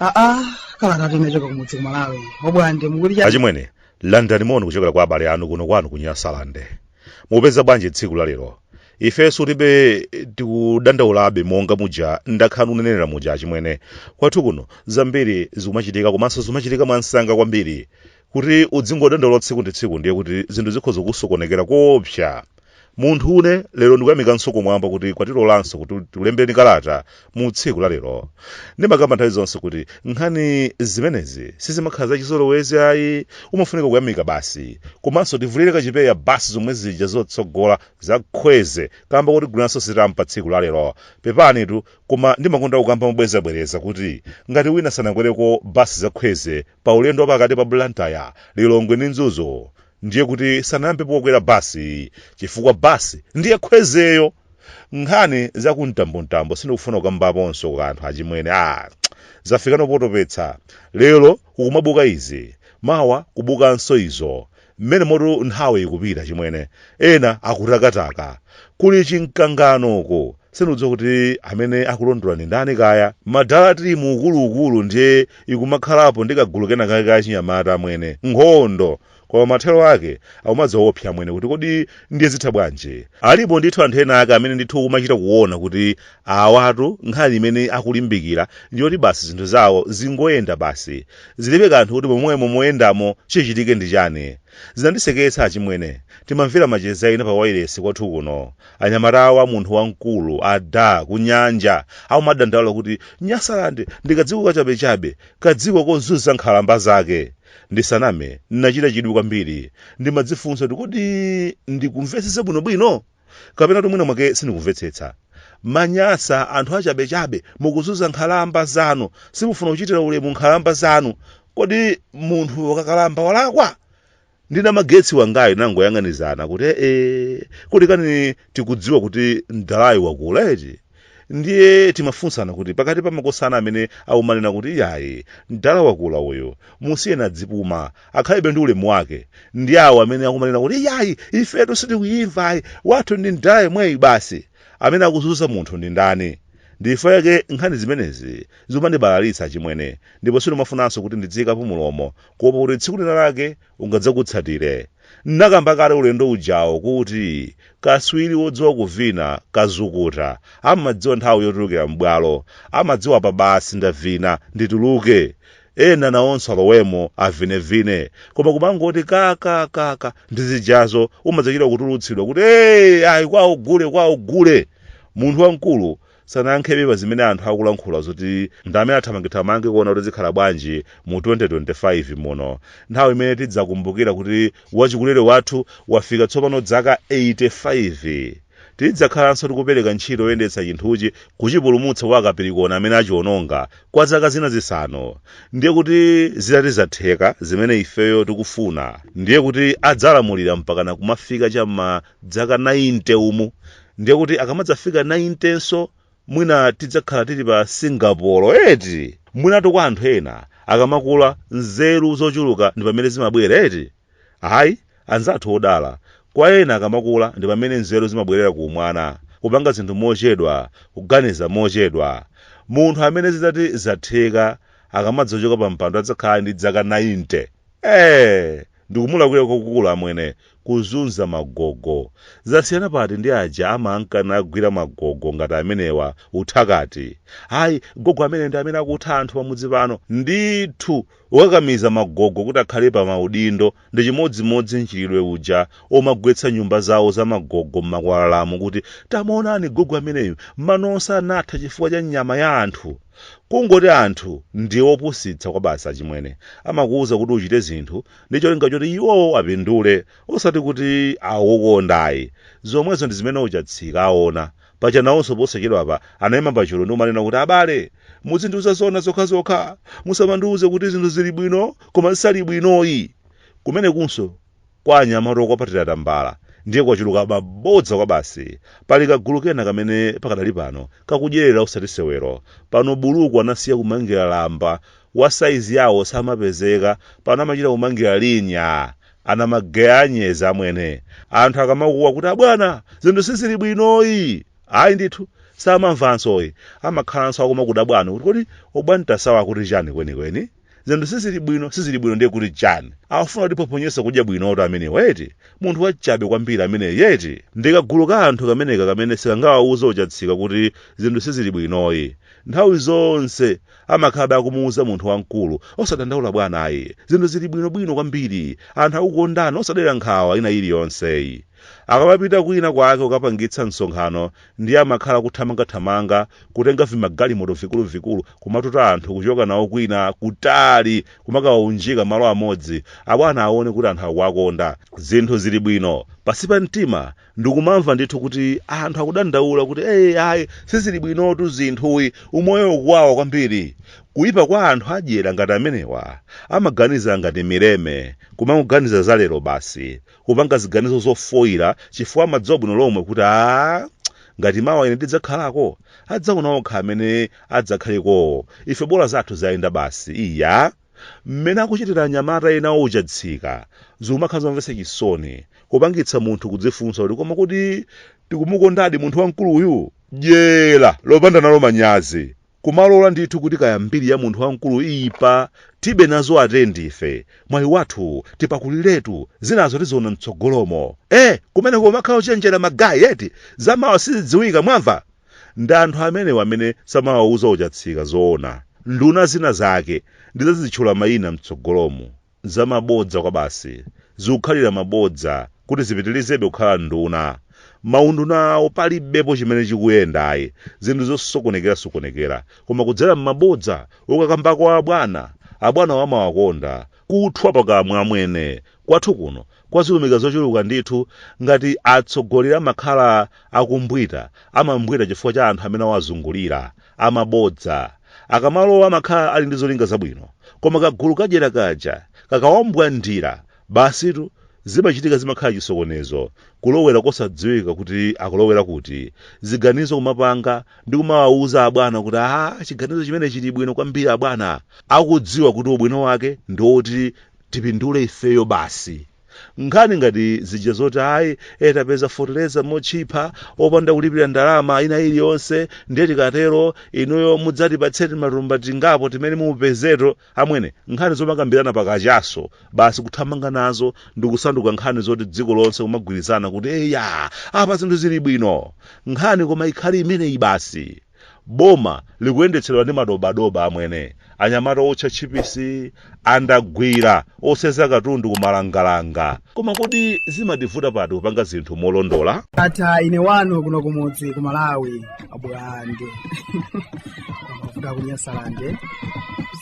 aa kalata tumechoka kumudzi kumalawi a Bwande mukuti achimwene landani moni kuchokera kwa abale anu kuno kwanu ku nyasalande Mupeza bwanji tsiku la lero? Ifenso tilibe tikudandaulabe monga muja ndakhala ndikunenera muja achimwene. Kwathu kuno zambiri zikumachitika komanso zikumachitika mwamsanga kwambiri. Kuti udzingodandaula tsiku ndi tsiku ndiye kuti zinthu zikhoza kusokonekera koopsa. Munthu une lero ndikuyamikanso kumwamba kuti kwatilolanso kuti tikulembeni kalata mu tsiku la lero ndimakamba nthawi zonse kuti nkhani zimenezi sizimakhala zachizolowezi ayi umafunika kuyamika basi komanso tivulire kachipewa basi zomwe zija zotsogola za kwezy kamba kuti agulanso sitampa pa tsiku la lero pepanitu koma ndimakonda kukamba mobwerezabwereza kuti ngati wina sanakwereko basi za kwezy pa ulendo wa pakati pa blantyre lilongwe ndi mzuzu ndiye kuti sanayambepo kukwera basi chifukwa basi ndiye kwezyyo Nkhani za ku mtambontambo sindikufuna kukambaponso kwa anthu achimwene ah zafikano potopetsa lero kukumabuka izi mawa kubukanso izo mmenemotu nthawi ikupita achimwene ena akutakataka kuli chimkanganoko sindikudziwa kuti amene akulondola ndi ndani kaya madala tili mu ukuluukulu ndiye kukumakhalapo ndi kagulu kena kake ka chinyamata amwene nkhondo koma mathero ake akumadzawopsa amwene kuti kodi ndiye zitha bwanji alipo ndithu anthu ena ake amene ndithu kumachita kuona kuti awatu nkhani imene akulimbikira ndiyoti basi zinthu zawo zingoyenda basi zilibe kanthu kuti momwemo moyendamo chichitike ndi chani zinandiseketsa achimwene timamvera macheza ena pa wailesi kwathu kuno anyamatawa munthu wamkulu ada kunyanja akumadandaula kuti nyasalande ndikadziko kachabechabe kadziko kozunza nkhalamba zake Ndisaname, ndinachita chidwi kwambiri. Ndimadzifunsa kuti kodi ndikumvetsetsa bwinobwino? Kapena kuti mwina mwake sindikumvetsetsa. Manyasa, anthu achabechabe, mukuzunza nkhalamba zanu. Simufuna kuchitira ulemu nkhalamba zanu. Kodi munthu akakalamba walakwa? Ndi namagetsi wangayo tinangoyang'anizana kuti ee, kodi kani tikudziwa kuti mdalayu wakula eti? ndiye timafunsana kuti pakati pa makosana amene akumanena kuti iyayi mdala wakula uyo musiyeni adzipuma akhalebe ndi ulemu wake ndi awo amene akumanena kuti iyayi ifetu sitikuyimva ayi wathu ndi mdala yemweyi basi amene akuzunza munthu ndi ndani n'chifukwa chake nkhani zimenezi zimandibalalitsa achimwene ndipo sindimafunanso kuti ndidziyikapo mulomo kuopa kuti tsiku lina lake ungadzakutsatire. N'nakamba kale ulendo ujawo kuti katswiri wodziwa kuvina, kazukuta, amadziwa nthawi yotulukira m'bwalo. Amadziwa apa basi ndavina, ndituluke. Ena nawonso alowemo, avinevine. Koma kumangoti ka ka ka ka ndi zijazo umadzachita kutulutsidwa kuti, Hey! Ayi kwawo gule, kwawo gule! Munthu wamkulu sanayankhebe pa zimene anthu akulankhula zoti ndi amene athamangethamange kuona kuti zikhala bwanji mu 2025 muno nthawi imene tidzakumbukira kuti wachikulire wathu wafika tsopano dzaka 85 tidzakhalanso tikupereka ntchito yoyendetsa chinthuchi kuchipulumutsa kwa akapirikona amene achiononga kwa zaka zina zisanu ndiye kuti zitati zatheka zimene ifeyo tikufuna ndiye kuti adzalamulira mpakana kumafika cha m'ma dzaka 90 umu ndiye kuti akamadzafika 90 nso mwina tidzakhala tili pa singapore eti mwinatu kwa anthu ena akamakula nzeru zochuluka ndi pamene zimabwera eti ayi anzathu odala kwa ena akamakula ndi pamene nzeru zimabwerera ku umwana kupanga zinthu mochedwa kuganiza mochedwa munthu amene zitati zatheka akamadzachoka pa mpando adzakhala ndi dzaka 90 Eeeh! Ndikumulakwira kwakukulu amwene, kuzunza magogo. Zasiyana pati ndi aja amankanawagwira magogo ngati amenewa, utsakati. Ayi, gogo amene ndi amene akutha anthu pamudzi pano. Ndithu, kukakamiza magogo kuti akhale pa maudindo ndi chimodzimodzi mchitidwe uja omagwetsa nyumba zawo za magogo m'makwalalamu kuti, tamuonani gogo ameneyu, mano onse anatha chifukwa cha nyama ya anthu. Kungoti anthu ndi opusitsa kwabasi achimwene. Amakuuza kuti uchite zinthu ndi cholinga choti iwowo apindule osati kuti akukukonda ayi. Zomwezo ndi zimene Ochatsika aona. Paja nawonso posachedwapa anaima pachulu ndi kumanena kuti abale, muzindiuza zoona zokhazokha. Musamandiuze kuti zinthu zili bwino koma zisali bwinoyi. Kumenekunso Kwa anyamata okwapatira tambala ndiye kwachuluka mabodza kwabasi. Pali kagulu kena kamene pakadali pano kakudyerera osati sewero. Pano buluku anasiya kumangira lamba, wa saizi yawo samapezeka, pano amachita kumangira linya! Amageya anyezi amwene! Anthu akamakuwa kuti abwana! Zinthu sizili bwinoyi! Ayi ndithu! Samamvansoyi! Amakhalanso akumakudabwa kuti kodi Obwantasawa akuti chani kwenikweni? zinthu sizili bwino sizili bwino ndiye kuti chani afuna kutiphophonyetsa kudya bwino ameneyu eti munthu wachabe kwambiri ameneyu eti ndi kagulu ka anthu kameneka kamene sikangawauze ochatsika kuti zinthu sizili bwinoyi nthawi zonse amakhalabe akumuuza munthu wamkulu osadandaula bwana ayi zinthu zili bwinobwino kwambiri anthu akukukondani osadera nkhawa ina iliyonseyi akamapita kwina kwake kukapangitsa msonkhano ndiye amakhala akuthamangathamanga kutenga vimagalimoto vikuluvikulu kumatuta anthu kuchoka nawo kwina kutali kumakawaunjika malo amodzi abwana aone kuti anthu akuwakonda zinthu zili bwino pansi pa mtima ndikumamva ndithu kuti anthu akudandaula kuti ayi sizili bwinotu zinthuyi umoyo ukuwawa kwambiri kuyipa kwa anthu adyera ngati amenewa amaganiza ngati mileme kumangoganiza za lero basi kupanga ziganizo zofoira chifukwa amadziwa bwino lomwe kuti a ngati mawa ine ndidzakhalako adzaona okha amene adzakhalekowo ife bola zathu zayenda basi iya mmene akuchitira anyamata ena ochatsika zimakhala zomvetsa chisoni kupangitsa munthu kudzifunsa kuti koma kodi tikumukondadi munthu wamkuluyu dyera lopanda nalo manyazi Kumalola ndithu kuti kaya mbiri ya munthu wamkulu iipa tibe nazo atendi ife mwayi wathu tipakuliretu zinazo tiziona mtsogolomo eh kumene kumakhala ochenjera magayi eti zamawa sizidziwika mwamva ndi anthu amenewa amene samawauza ochatsika zoona nduna zina zake ndizazitchula mayina mtsogolomu Zamabodza kwabasi. Zikukhalira mabodza kuti zipitilizebe kukhala nduna. Maunduna awo palibepo chimene chikuyenda ayi. Zinthu zosokonekera sokonekera. Koma kudzera mmabodza okakamba kwa abwana, abwanawo amawakonda. Kuthwa pakamwa amwene. Kwathu kuno kwazilumika zochuluka ndithu. Ngati atsogoleri amakhala akumbwita, amambwita chifukwa cha anthu amene awazungulira. amabodza. Akamalowa amakhala ali ndi zolinga zabwino, koma kagulu kadyera kaja kakawambwandira, basitu zimachitika zimakhala chisokonezo, kulowera kosadziwika kuti akulowera kuti, ziganizo kumapanga ndi kumawauza abwana kuti aah chiganizo chimenechi chili bwino kwambiri abwana, akudziwa kuti ubwino wake ndi woti tipindule ifeyo basi. Nkhani ngati zija zoti ayi e tapeza feteleza motchipha opanda kulipira ndalama ina iliyonse ndiye tikatero inuyo mudzatipatse timatumba tingapo timene mupezeto, amwene nkhani zomakambirana pa kachaso basi kuthamanga nazo ndikusanduka nkhani zoti dziko lonse kumagwirizana kuti eya apa zinthu zili bwino. Nkhani koma ikhale imeneyi basi? Boma likuyendetsedwa ndi madobadoba amwene, anyamata owotcha tchipisi, andagwira, osenza katundu ku malangalanga. Koma kodi zimativuta pati kupanga zinthu molondola? Ndatha ine wanu kuno kumudzi ku Malawi abwande. Kuda kunyasalande.